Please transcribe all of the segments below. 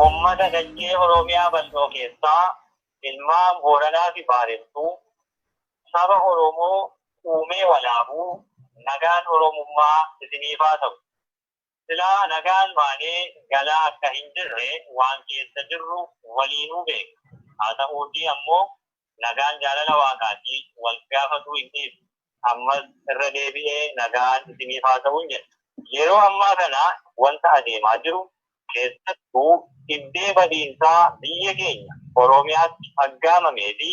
Uummata dachee Oromiyaa bal'oo keessaa ilmaan Booranaa fi Baarentuu saba Oromoo uumee walaabuu nagaan Oromummaa isiniif haa ta'u. Silaa nagaan baanee galaa akka hin jirre waan keessa jirru waliinuu beekna. Haa ta'uutii ammoo nagaan jaalala Waaqaati, wal gaafatuu hin dhiisu. Ammas irra deebi'ee nagaan isiniif haa ta'un jenna. Yeroo ammaa kana wanta adeemaa jiru, keessattuu dhibdee badiinsaa biyya keenya Oromiyaatti aggaamamee fi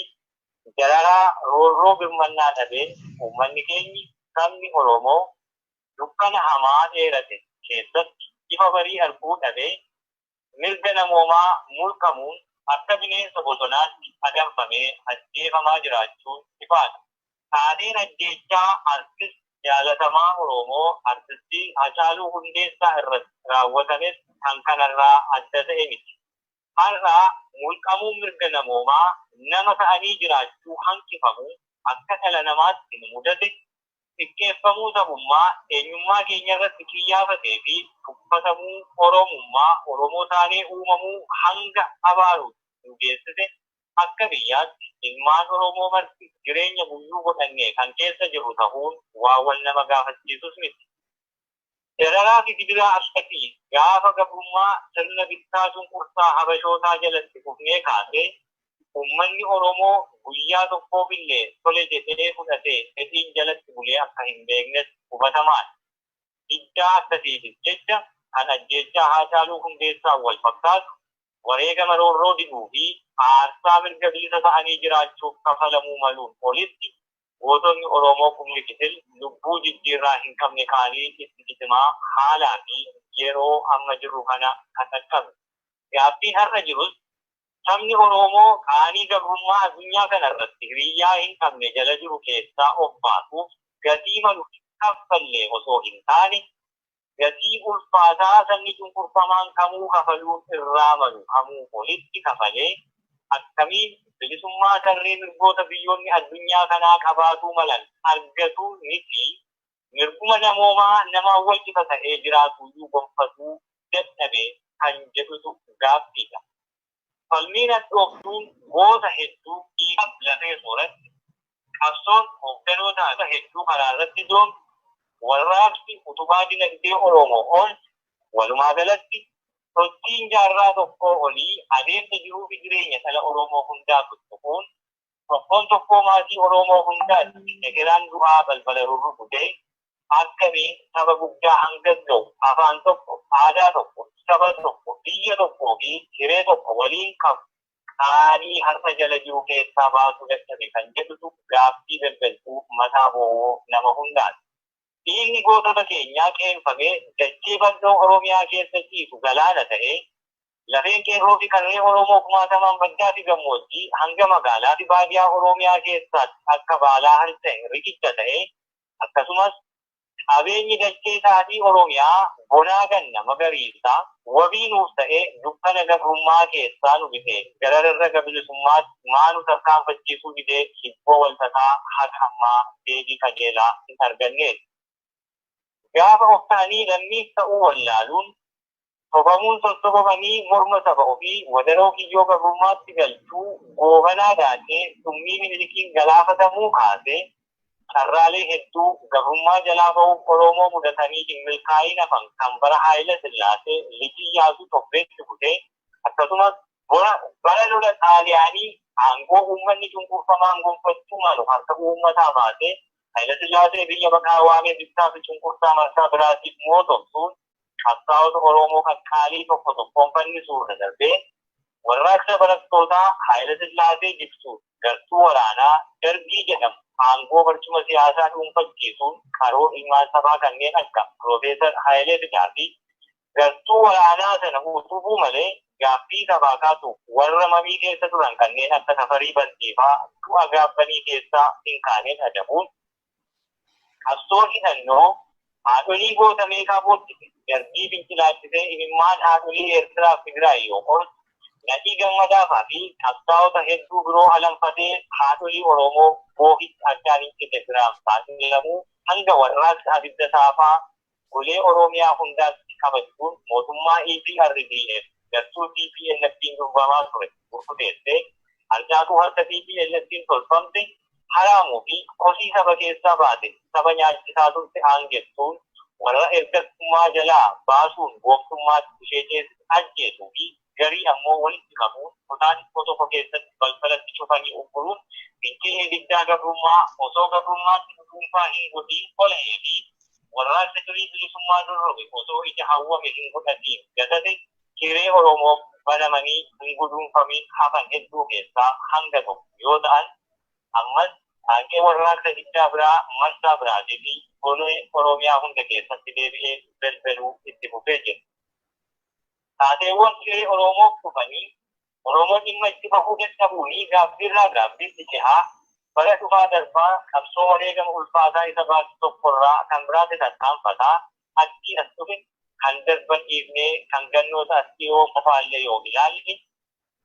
dararaa roorroo birmannaa dhabeen uummanni keenyi, sabni Oromoo, dukkana hamaa dheerate keessatti ifa barii arguu dhabee mirga namoomaa mulqamuun akka bineensa bosonaatti adamfamee ajjeefamaa jiraachuun ifaadha. Taateen ajjeechaa artist jaalatamaa Oroomoo artistii Hacaaluu Hundeessaa irratti raawwatames kan kanarraa adda ta'e miti. Har'a mulqamuun mirga namoomaa nama ta'anii jiraachuu hanqifamu akka dhala namaatti nu mudate, xiqqeeffamuu sabummaa, eenyummaa keenyarratti qiyyaafatee fi tuffatamuu Oromummaa, Oromoo taanee uumamuu hanga abaaruutti nu geessise akka biyyaatti ilmaan Oromoo marti jireenya guyyuu godhannee kan keessa jirru tahuun waa wal nama gaafachiisus miti. Dararaa fi gidiraa akkasii gaafa gabrummaa sirna bittaa cunqursaa Habashootaa jalatti kufnee kaasee ummanni Oromoo guyyaa tokkoofillee tole jedhee fudhatee fedhiin jalatti bulee akka hin beeknes hubatamaadha. Diddaa akkasiifis jecha kan ajjeechaa Haacaaluu Hundeessaan wal fakkaatu wareegama roorroo diduu fi aarsaa mirga bilisa ta'anii jiraachuuf kafalamuu maluun olitti Gootonni Oromoo kumni Gitil lubbuu jijjiirraa hin qabne kaanii itti cicimaa haalaa fi yeroo amma jirru kana kan dhaqqabne. Gaaffiin har'a jirus sabni Oroomoo qaanii gabrummaa addunyaa kana irratti hiriyyaa hin qabne jala jiru keessaa of baasuuf gatii malu hin kaffallee osoo hin taane gatii ulfaataa sabni cunqurfamaan kamuu kafaluun irraa malu kamuu olitti kafalee akkamiin bilisummaa tarree mirgoota biyyoonni addunyaa kanaa qabaatuu malan argatuu miti mirguma namoomaa namaan walqixa ta'ee jiraatuuyyuu gonfatuu dadhabe kan jedhutu gaaffiidha. Falmiin hadhooftuun goota hedduu dhiigaf lafee sooratte, qabsoon hoogganoota haqa hedduu karaarratti doomte, warraaqsi utubaa dinagdee Oromoo oolche, walumaagalatti, sochiin jaarraa tokkoo olii adeemsa jiruufi jireenya dhala Oromoo hundaa tuttuquun Tokkoon tokkoo maatii Oroomoo hundaatti egeraan du'aa balbala rurrukutee akkamiin saba guddaa hangas ga'u afaan tokko, aadaa tokko, saba tokko, biyya tokkoo fi hiree tokko waliin qabu qaalii har'a jala jiru keessaa baasuu dadhabe kan jedhutu gaaffii daldaltuu mataa bowwoo nama hundaati. Dhiigni gootota keenyaa qeenfamee dachee bal'oo Oromiyaa keessa ciisu galaana ta'ee Lafeen Qeerroofi Qarree Oromoo kumaatamaan baddaafi gammoojjii hanga magaalaafi baadiyaa Oromiyaa keessaatti akka baalaa harca'e riqicha ta'e, akkasumas qabeenyi dachee xaafii Oromiyaa bonaa ganna magariisa wabii nuuf ta'ee dukkana gabrummaa keessaa nu bisee gara rarraga bilisummaatti maa nu tarkaanfachiisuu didee hibboo walxaxaa haga ammaa deebii qajeelaa hin arganneeti. Gaafa of ta'anii lammiis ta'uu wallaaluun Sobamuun sossobamanii morma saba ofii wadaroo kiyyoo gabrummaatti galchuu Goobanaa daakee summii Minilikiin galaafatamuu kaasee carraalee hedduu gabrummaa jalaa bahuuf Oroomoo mudatanii hin milkaa'iin hafan kan bara Haayila Sillaasee, Lij Iyyaasuu tobbeetti butee akkasumas bora bara lola Xaaliyaanii aangoo uummanni cunqurfamaan gonfachuu malu harka uummataa baasee Haayila Sillaasee biyya baqaa waamee bittaa fi cunqursaa marsaa biraatiif mootomsuun qabsaa'ota Oromoo kan qaalii tokko tokkoon fannisuurra darbee warraaqsa barattootaa Haayilasillaasee jigsuun gartuu waraanaa Dargii jedhamu aangoo barcuma siyaasaa dhuunfachiisuun qaroo ilmaan sabaa kanneen akka Piroofeesar Haayilee Fidaa fi gartuu waraanaa sana utubuu malee gaaffii sabaa kaasuuf warra mamii keessa turan kanneen akka Tafarii Bantiifaa du'a gaabbanii keessaa hin kaaneen adabuun Qabsoon hidhannoo haadholii goota meeqaa boochise, darbii fincilaachisee imimmaan haadholii Eertiraaf Tigraay yoo qorsu, Nadhii Gammadaafaa fi qabsaa'ota hedduu biroo alanfatee haadholii Oromoo boohichi addaan hin cite biraan saaxilamuu hanga warraaqsa abidda saafaa Golee Oromiyaa hundaatti kabajjuun mootummaa EPRDF gartuu TPLFn durbamaa ture burkuteessee harcaatuu harka TPLFn tolfamte haraamuu fi kosii saba keessaa baate saba nyaachisaa turte aangessuun warra ergattummaa jalaa baasuun gooftummaatti ishee ceesise ajjeesuu fi garii ammoo walitti qabuun kutaa xiqqoo tokko keessatti balbala itti cufanii ugguruun fincilli diddaa gabrummaa osoo gabrummaatti nu dhuunfaa hin godhiin ola'ee fi warraaqsa durii bilisummaa dorrobe osoo ija hawwame hin godhatiin gatate hiree Oromoof banamanii hin guduunfamiin hafan hedduu keessaa hanga tokko yoo ta'an ammas qaanqee warraaqsa diddaa biraa marsaa biraatii fi golee Oromiyaa hunda keessatti deebi'ee belbeluu itti fufee jira. Taateewwan hiree Oromoof dhufanii Oromoon dhimma itti bahuu dadhabuunii gaabbiirraa gaabbiitti cehaa bara dhufaa darbaa qabsoo wareegama ulfaataa isa baase tokkorraa kan biraatti tarkaanfataa achii as dhufe kan darban dhiifnee kan gannoota as dhiyoo qofaallee yoo ilaalle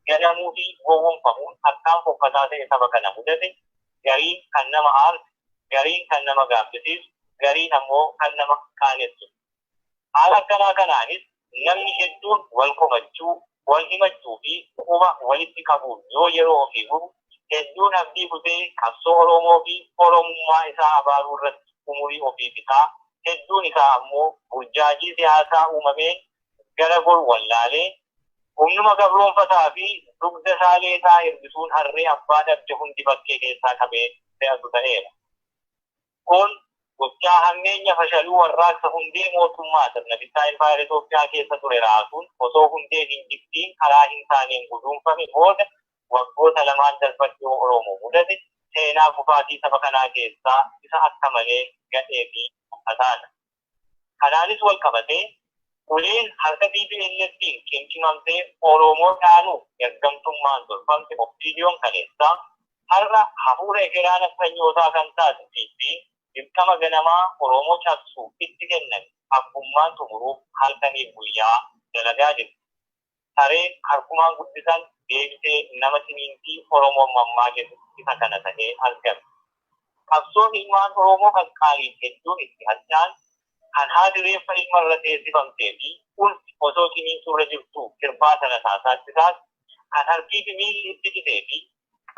ganamuu fi gowwomfamuun akkaan fokkataa ta'e saba kana mudate, gariin kan nama aarsu, gariin kan nama gaabbisiisu, gariin ammoo kan nama qaanessu. Haala akkanaa kanaanis namni hedduun wal komachuu, wal himachuu fi quba walitti qabuun yoo yeroo ofii gubu, hedduun abdii kutee qabsoo Oroomoo fi Oromummaa isaa abaaruu irratti umurii ofii fixaa, hedduun isaa ammoo burjaajii siyaasaa uumameen gara goru wallaalee, humnuma gabroomfataa fi dugda isaa leexaa hir'isuun harree abbaa dhabde hundi bakkee keessaa qabee fe'atu ta'eera. Kun gochaa hammeenya fashaluu warraaqsa hundee mootummaa sirna bittaa Impaayera Itoophiyaa keessa ture raasuun osoo hundeen hin jigdiin karaa hin taaneen guduunfame booda waggoota lamaan darban dhiyoo Oromoo mudate seenaa kufaatii saba kanaa keessaa isa akka malee gadhee fi haxaadha. Kanaanis walqabatee uleen harka TPLFn qimqimamte Oromoo dhaanuuf ergamtummaan tolfamte Opdon kaleessaa har'a hafuura ekeraa nafxanyootaa kan taate PPn dirqama ganamaa Oromoo cabsuuf itti kenname abbummaan xumuruuf halkaniif guyyaa dalagaa jirti. Sareen harkumaan guddisan deebitee nama ciniinti Oromoon mammaaketu isa kana tahee argame. Qabsoon ilmaan Oromoo qaqqaaliin hedduun itti hadhaan, kan haati reeffa ilma irra teessifamtee fi ulfi osoo ciniintu irra jirtuu kirbaata rasaasaatti taatu, kan harkii fi miilli itti citee fi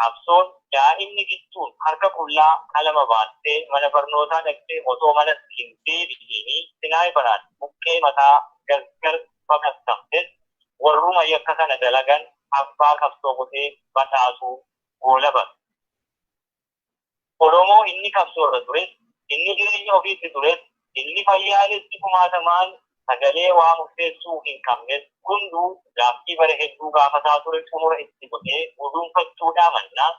Qabsoon daa'imni Gittuun harka qullaa qalama baattee mana barnootaa dhaqxee otoo manatti hin deebi'iini Sinaayiparaan buqqee mataa gargar baqaqqamtes warruma yakka kana dalagan abbaa qabsoo godhee badhaasuu goolabame. Oromoo inni qabsoorra ture, inni jireenya ofiitti tures, inni fayyaalessi kumaatamaan sagalee waa murteessuu hin qabnes hunduu gaaffii bara hedduu gaafataa ture xumura itti godhee guduunfachuudhaa mannaa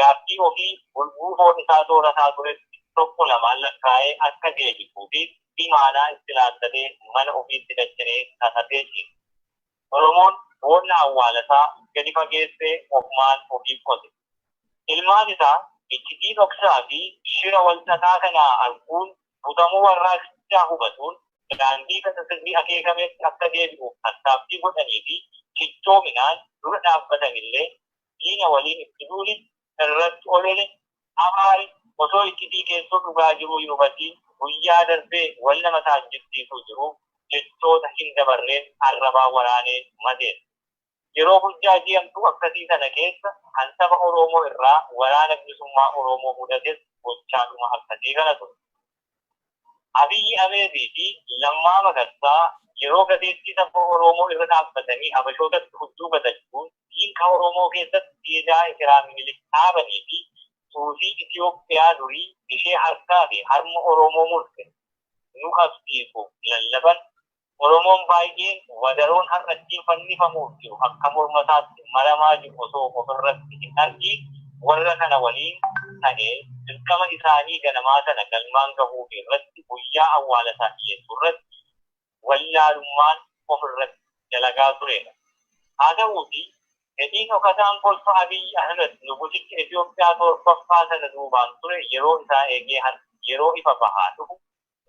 gaaffii ofii bulguu foon isaa soorataa turetti tokko lamaan lakkaa'ee akka deebisuufiif imaanaa itti laattatee mana ofiitti dacha'ee kakatee ciise. Oromoon boolla awwaalasaa gadi fageessee ofumaan ofiif qote. Ilmaan isaa iccitii dhoksaa fi shira wal xaxaa kana arguun butamuu warraaqsichaa hubatuun daandii kasa sirrii akeekametti akka deebi'uuf tattaaffii godhanii fi cichoominaan dura dhaabbatanillee diina waliin itti duuli irratti olole abaari osoo iccitii keessoo dhugaa jiruu hin hubatiin guyyaa darbee wal nama saajjibsiisuu jiru jechoota hin dabarreen arrabaa waraanee madeessa. Yeroo burjaajii hamtuu akkasii sana keessa kan saba Oroomoo irraa waraana bilisummaa Oroomoo mudates gochaadhuma akkasii kana ture. Abiyyi Ameed fi Lammaa Magarsaa yeroo gateettii saba Oroomoo irra dhaabbatanii Habashootatti hudduu gatachuun diinqa Oroomoo keessatti siidaa ekeraa Minilik dhaabanii fi suusii Itiyoophiyaa durii ishee harkaa fi harma Oroomoo murte nu qabsiisu lallaban Oromoon baay'een wadaroon har'a ittiin fannifamuuf jiru akka morma isaatti maramaa jiru osoo ofirratti hin argiin warra kana waliin ta'ee dirqama isaanii ganamaa sana galmaan gahuufi irratti guyyaa awwaala isaa dhiyeessuu irratti wallaalummaan ofirratti dalagaa tureera. Haa ta'uutii fedhii dhokataan kolfa Abiy Ahmed nugusicha Itoophiyaa 7ffaa sana duubaan ture yeroo isaa eegee har'a yeroo ifa bahaa dhufu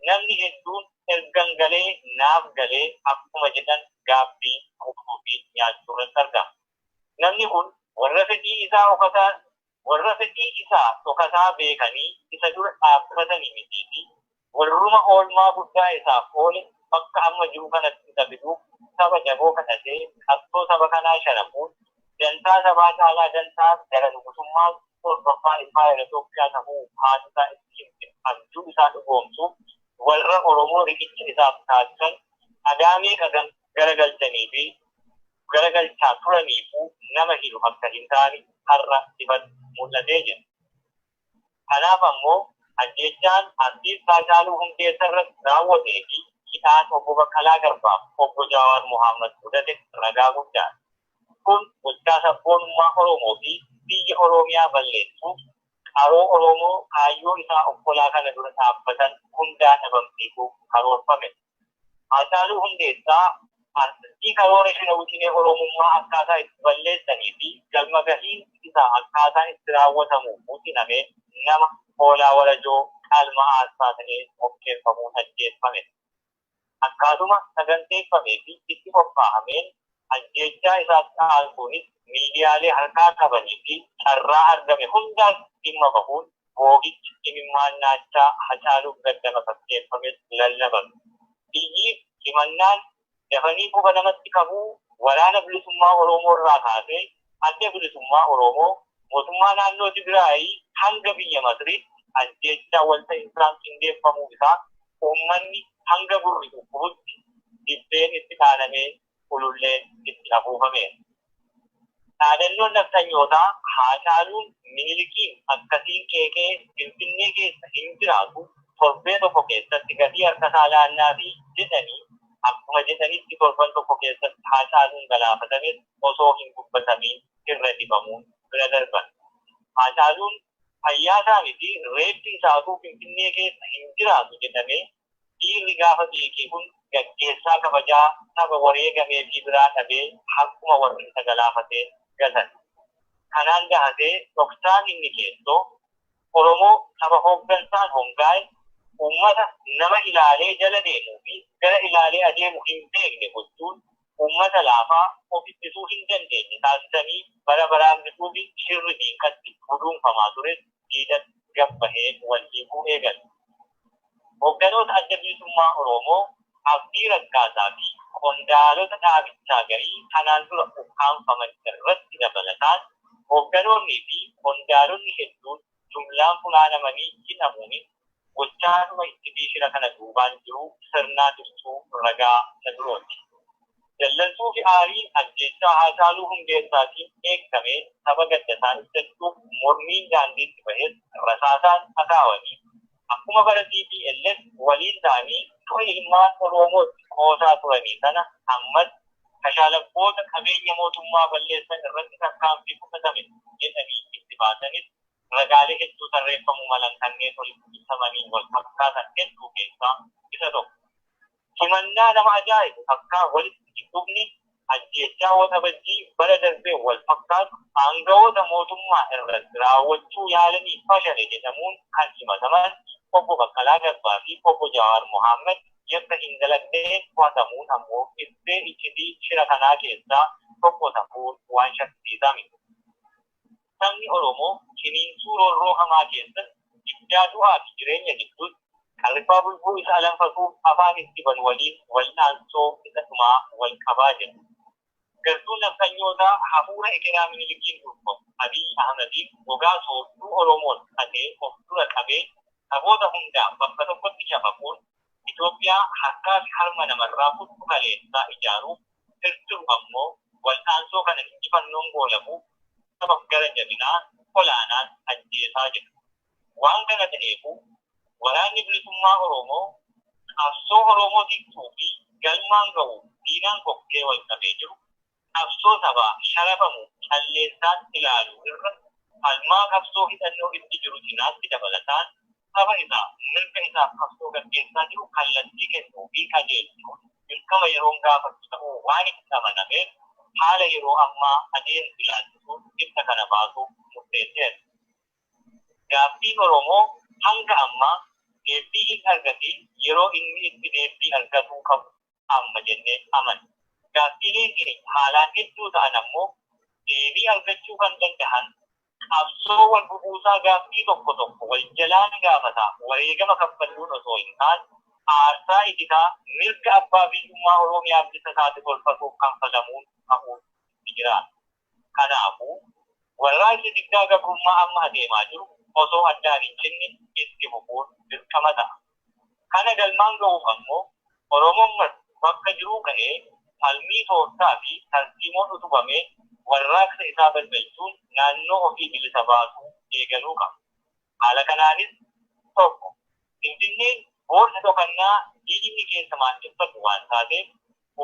Namni hedduun ergan galee naaf galee akkuma jedhan gaabbii, dhuguu fi nyaachuu irratti argama. Namni kun warra fedhii isaa dhokataa warra fedhii isaa dhokataa beekanii isa dura dhaabbatani mitii fi warruma oolmaa guddaa isaaf oole bakka amma jiru kanatti isa fiduuf saba jaboo kadhatee qabsoo saba kanaa sharafuun dantaa sabaa caalaa dantaa gara nugusummaa kurfaffaa impaayera Itoophiyaa tahuu haati isaa itti himte abjuu isaa dhugoomsuuf warra Oromoo riqicha isaaf taasisan dhagaa meeqa gara galchanii fi gara galchaa turaniifuu nama hilu akka hin taane har'a ifatti mul'atee jira. Kanaaf ammoo ajjeechaan Artiist Haacaaluu Hundeessarratti raawwatee fi hidhaan Obbo Baqqalaa Garbaa fi Obbo Jaawaar Mohaammad mudate ragaa guddaadha. Kun gochaa sabboonummaa Oromoo fi biyya Oroomiyaa balleessuuf qaroo Oromoo kaayyoo isaa obbolaa kana dura dhaabbatan hundaa dhabamsiisuuf karoorfamedha. Haacaaluu Hundeessaa artistii karoora shira wixinee Oromummaa akkaataa itti balleessanii fi galma gahiin isaa akkaataa itti raawwatamu wixiname nama hoolaa warajoo qalma aarsaa ta'ee mokkeeffamuun ajjeeffame. Akkaatuma saganteeffamee fi itti qophaahameen Ajjeechaa isaatti aansuunis miidiyaalee harkaa qabanii fi carraa argame hundaan dhimma bahuun boo'ichi imimmaan naachaa Hacaaluuf gadda makakkeeffames lallabame. Iyyiif himannaan dafanii quba namatti qabuu Waraana Bilisummaa Oroomoo irraa kaasee Adda Bilisummaa Oroomoo, Mootummaa Naannoo Tigraayi hanga biyya Masriitti ajjeechaa walta'insaan qindeeffamuu isaa uummanni hanga gurri dhukkubutti dibbeen itti dhaanamee ululleen itti afuufameera. Dhaadannoon nafxanyootaa Haacaaluun Minilikiin akkasiin qeeqee Finfinnee keessa hin jiraatu, torbee tokko keessatti gatii harkasaa laannaafi jedhanii akkuma jedhanitti torban tokko keessatti Haacaaluun galaafatames osoo hin dubbatamiin irra dhibamuun bira darban. Haacaaluun fayyaasaa miti reeffi isaatuu Finfinnee keessa hin jiraatu jedhamee Dhiirri gaafa beekee kun gaggeessaa kabajaa saba wareegameefii biraa dhabee harkuma warri isa galaafatee gatan. Kanaan dahatee dhoksaan inni keessoo Oromoo saba hooggansaan hongaa'e, uummata nama ilaalee jala deemuu fi gara ilaalee adeemu hin beekne gochuun uummata laafaa of ittisuu hin dandeenye taasisanii bara baraan bituufi shirri diinqatti guduunfamaa ture diidan gad bahee wal hiikuu eegale. Hogganoota Adda Bilisummaa Oroomoo Abdii Raggaasaa fi qondaalota dhaabichaa garii kanaan dura ukkaamfaman irratti dabalataan hogganoonnii fi qondaalonni hedduun jumlaan funaanamanii hidhamuunis Gochaadhuma iccitii shira kana duubaan jiru sirnaa dhirtuu ragaa isa birooti. Dallansuufi aariin ajjeechaa Haacaaluu Hundeessaatiin dheekkamee saba gaddasaa ibsachuuf mormiin daandiitti bahes rasaasaan dhakaawanii akkuma bara tplf waliin ta'anii du'a ilmaan Oroomootti qoosaa turanii sana ammas kashalabboota qabeenya mootummaa balleessan irratti tarkaanfii fudhatame jedhanii itti baasanis ragaalee hedduu tarreeffamuu malan kanneen olitti ibsamaniin wal fakkaatan hedduu keessaa isa tokko. Himannaa nama ajaa'ibu takkaa walitti hin dhufne ajjeechaa Waxabajjii bara darbeen wal fakkaatu aangawoota mootummaa irratti raawwachuu yaalanii fashale jedhamuun kan himataman Obbo Baqqalaa Garbaa fi Obbo Jawaar Mohaammad yakka hin dalagdeen to'atamuun ammoo ittee iccitii shira kanaa keessaa tokko tahuun waan shakkisiisaa miti. Sabni Oromoo ciniinsuu roorroo hamaa keessatti, diddaa du'aa fi jireenya gidduutti, kan rifaa bulguu isa alanfatuuf afaan itti banu waliin wal'aansoo isa dhumaa wal qabaa jira. Gartuun nafxanyootaa hafuura ekeraa Minilikiin durfamu Abiy Ahmadiin gogaa soodduu Oromoon hate of dura qabee saboota hundaan bakka tokkotti cafaquun Itoophiyaa harkaa fi harma namarraa kuttu kaleessaa ijaaruuf Keessumaa ammoo wal'aansoo kana injifannoon goolabuuf sabab gara jabinaa olaanaan ajjeesaa jira. Waan kana ta'eefuu Waraanni Bilisummaa Oroomoo qabsoo Oroomoo tiktuu fi galmaan ga'uuf diinaan kokkee wal qabee jiru qabsoo sabaa sharafamu calleessaan ilaaluu irra falmaa qabsoo hidhannoo itti jiru cinaatti dabalataan Saba isaa mirga isaaf qabsoo gaggeessaa jiru kallattii kennuu fi qajeelchuun dirqama yeroon gaafatu ta'uu waan itti amanameef haala yeroo ammaa adeemsu ilaalchisuun ibsa kana baasuuf murteesseera. Gaaffiin Oromoo hanga ammaa deebbii hin argatiin yeroo inni itti deebbii argatuu qabu. amma jennee amanna. Gaaffiileen keenya haalaan hedduu ta'an ammoo deebii argachuu kan dandahan qabsoo wal bubuusaa gaaffii tokko tokko wal jalaan gaafataa wareegama kaffalluun osoo hin taane aarsaa ititaa mirga abbaa biyyummaa Oroomiyaaf isa taate tolfatuuf kanfalamuun ta'uun itti jiraata. Kanaafuu, warraaqsi diddaa gabrummaa amma adeemaa jiru osoo addaan hin cinne itti fufuun dirqama ta'a. Kana galmaan ga'uuf ammoo Oromoon marti bakka jiruu ka'ee falmii tooftaa fi tarsiimoon utubameen warraaqsa isaa balbalchuun naannoo ofii bilisa baasuu eegaluu qaba. Haala kanaanis 1. Finfinneen boolla dhokannaa diinni keessa maandheffatu waan taateef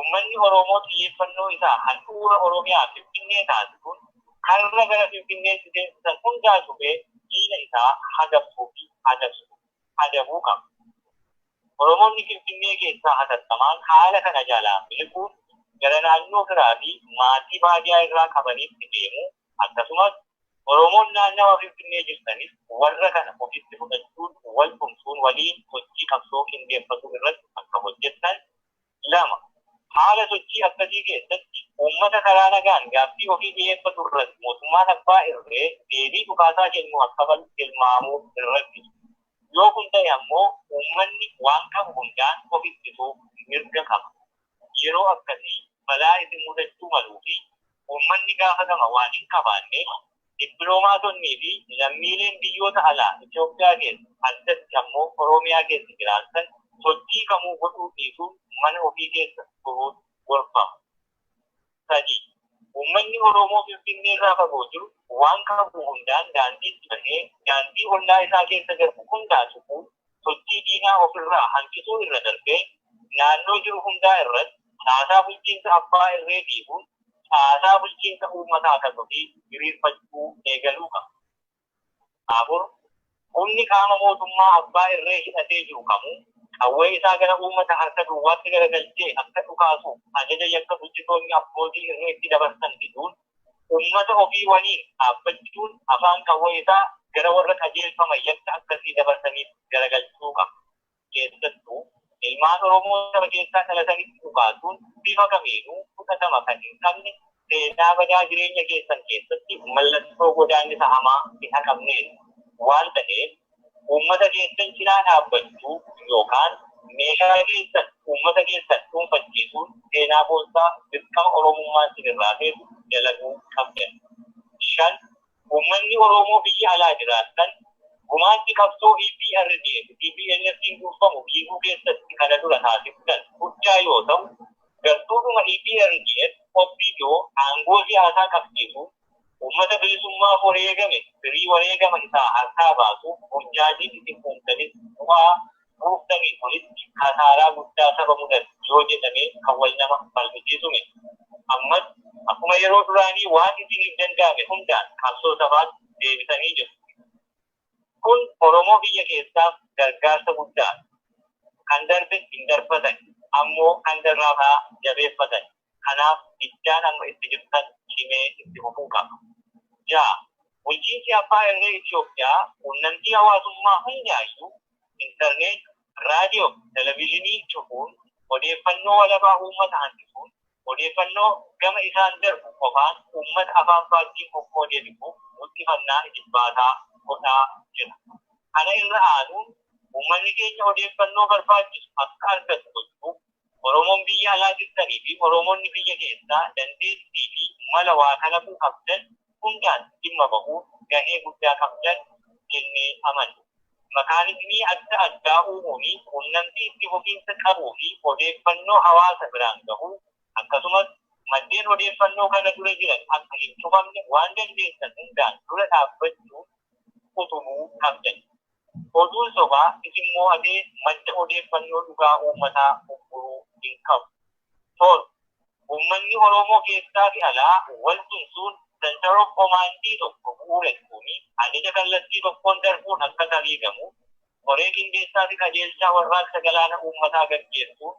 ummanni Oroomoo xiyyeeffannoo isaa handhuura Oromiyaa Finfinnee taasisuun karra gara Finfinneetti seensisan hundaa cufee diina isaa hagabsuu fi adabsu, adabuu, qaba. Oromoonni Finfinnee keessaa hatattamaan haala kana jalaa miliquuf gara naannoo firaa fi maatii baadiyaa irraa qabaniitti deemuu akkasumas, Oromoon naannawa Finfinnee jirtanis warra kana ofitti fudhachuun wal tumsuun waliin sochii qabsoo qindeeffatu irratti akka hojjettan 2. Haala sochii akkasii keessatti uummata karaa nagaan gaaffii ofii dhiyeeffatu irratti mootummaan abbaa irree deebii dhukaasaa kennu akka malu tilmaamuun hin rakkisu. Yoo kun ta'e ammoo uummanni waan qabu hundaan of ittisuuf mirga qaba. yeroo akkasii balaa isin mudachuu maluu fi uummanni gaafatama waan hin qabaanneef dippiloomaatonnii fi lammiileen biyyoota alaa Itiyoophiyaa keessa addatti ammoo Oromiyaa keessa jiraattan sochii kamuu godhuu dhiisuun mana ofii keessa turuun gorfama. 3. Uummanni Oromoo Finfinnee irraa fagoo jiru waan qabu hundaan daandiitti bahee daandii ollaa isaa keessa darbu hundaa cufuun sochii diinaa of irraa hanqisuu irra darbee naannoo jiru hundaa irratti caasaa bulchiinsa abbaa irree diiguun caasaa bulchiinsa uummataa kan ofii diriirfachuu eegaluu qaba. 4, Humni qaama mootummaa abbaa irree hidhatee jiru kamuu qawwee isaa gara uummata harka duwwaatti garagalchee akka dhukaasuuf ajaja yakka bulchitoonni abbootii irree itti dabarsan diduun uummata ofii waliin dhaabbachuun afaan qawwee isaa gara warra qajeelfama yakka akkasii dabarsaniitti garagalchuu qaba. Keessattuu, ilmaan Oromoo saba keessaa dhalatanitti dhukaasuun bifa kamiinuu fudhatama kan hin qabne, seenaa badaa jireenya keessan keessatti mallattoo godaannisa hamaa hin haqamneen waan taheef, uummata keessan cinaa dhaabbachuu yookaan meeshaa keessan uummata keessan dhuunfachiisuun seenaa boonsaa dirqama Oromummaan sinirraa feetu dalaguu qabdan. 5. Uummanni Oromoo biyya alaa jiraattan gumaachi qabsoo EPRDF, TPLFn durfamu diiguu keessatti kana dura taasiftan guddaa yoo ta'u, gartuudhuma EPRDF, opdo, aangoo siyaasaa qabsiisuun uummata bilisummaaf wareegame firii wareegama isaa harkaa baasuuf burjaajii isin uumtanis bu'aa Gooftarii kunis kasaaraa guddaa saba mudate yoo jedhamee kan wal nama falmisiisu miti. Ammas akkuma yeroo duraanii waan isiniif danda'ame hundaan qabsoo sabaat deebitanii jirtu. Kun Oromoo biyya keessaaf gargaarsa guddaadha. Kan darbe hin darbatani. Ammoo kan darraaf haa jabeeffatani. Kanaaf diddaan amma itti jirtan cimee itti fufuu qaba. 6, Bulchiinsi Abbaa Irree Itiyoophiyaa quunnamtii hawaasummaa hundaayyuu, internet, radio fi televisionii cufuun, odeeffannoo walabaa uummata hanqisuun, odeeffannoo gama isaan darbu qofaan uummata afaan faajjiin qoqqoodeefifuuf muxxifannaa ijibbaataa godhaa jira. Kana irra aanuun uummanni keenya odeeffannoo barbaachisu akka argatu gochuuf Oromoon biyya alaa jirtanii fi Oromoonni biyya keessaa dandeettii fi mala waa kalaquu qabdan hundaan dhimma bahuun gahee guddaa qabdan jennee amanna. Makaanizimii adda addaa uumuun quunnamtii itti fufiinsa qabuu fi odeeffannoo hawaasa biraan gahuu, akkasumas maddeen odeeffannoo kana dura jiran akka hin cufamne waan dandeessan hundaan dura dhaabbachuun utubuu qabdan. Oduun sobaa isin moo'atee madda odeeffannoo dhugaa uummataa ugguruu hin qabu. 7, Uummanni Oromoo keessaa fi alaa wal tumsuun Center of Command tokko bu'uuressuun ajaja kallattii tokkoon darbuun akka sariigamuuf koree qindeessaa fi qajeelchaa warraaqsa galaana uummataa gaggeessuun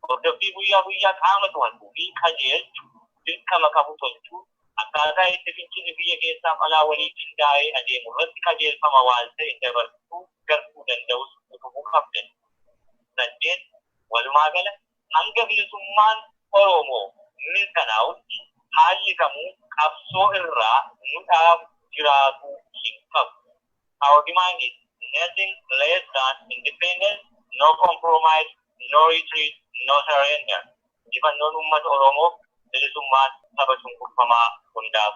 Hordoffii guyyaa guyyaa qaama to'atu fi qajeelchu dirqama qabu tolchuun akkaataa itti fincilli biyya keessaaf alaa waliin qindaa'ee adeemu irratti qajeelfama waan ta'e dabarsuu gartuu danda'us utubuu qabda. 8, Walumaagala, hanga bilisummaan Oromoo mirkanaa'utti haalli kamuu qabsoo irraa nu dhaabu jiraatuu hin qabu. Our demand is nothing less than independence, no compromise, no retreat, no surrender. Injifannoon uummata Oromoof, bilisummaan saba cunqurfamaa hundaaf.